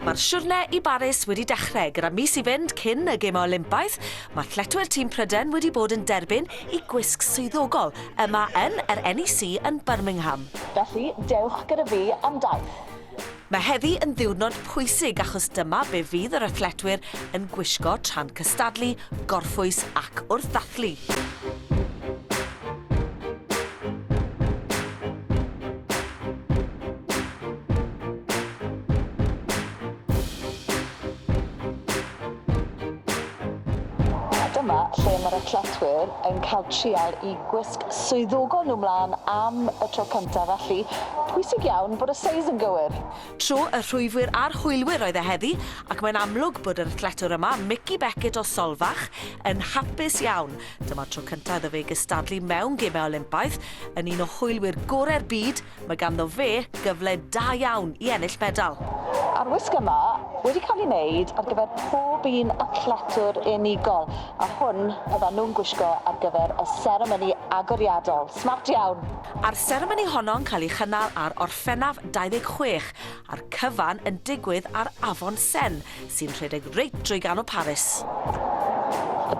Mae'r siwrne i Baris wedi dechrau gyda mis i fynd cyn y Gemau Olympaidd. Mae athletwyr tîm Prydain wedi bod yn derbyn i gwisg swyddogol yma yn yr NEC yn Birmingham. Felly, dewch gyda fi am daith. Mae heddi yn ddiwrnod pwysig achos dyma be fydd yr athletwyr yn gwisgo tra'n cystadlu, gorffwys ac wrth ddathlu. Dyma lle mae'r athletwyr yn cael trial i gwisg swyddogol nhw mlaen am y tro cyntaf felly pwysig iawn bod y seis yn gywir. Tro y rhwyfwyr a'r hwylwyr oedd e heddi ac mae'n amlwg bod yr athletwr yma, Mickey Beckett o Solfach, yn hapus iawn. Dyma'r tro cyntaf iddo fe gystadlu mewn Gemau Olympaidd, yn un o hwylwyr gorau'r byd, mae ganddo fe gyfle da iawn i ennill medal. A'r wisg yma wedi cael ei wneud ar gyfer pob un athletwr unigol, a hwn fyddan nhw'n gwisgo ar gyfer y seremoni agoriadol. Smart iawn! A'r seremoni honno'n cael ei chynnal ar Orffennaf 26, a'r cyfan yn digwydd ar Afon Sen, sy'n rhedeg reit drwy ganol Paris.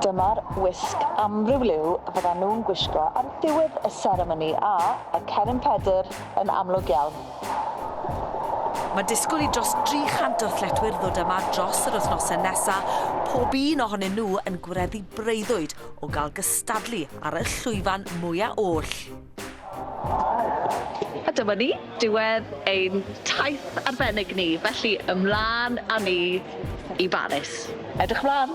Dyma'r wisg amryw liw fyddan nhw'n gwisgo ar ddiwedd y seremoni a y Cennin Pedr yn amlwg iawn. Mae disgwyl i dros 300 o athletwyr ddod yma dros yr wythnosau nesaf, pob un ohonyn nhw yn gwireddu breuddwyd o gael gystadlu ar y llwyfan mwyaf oll. A dyma ni, diwedd ein taith arbennig ni, felly ymlaen a ni i Baris. Edrych mlan!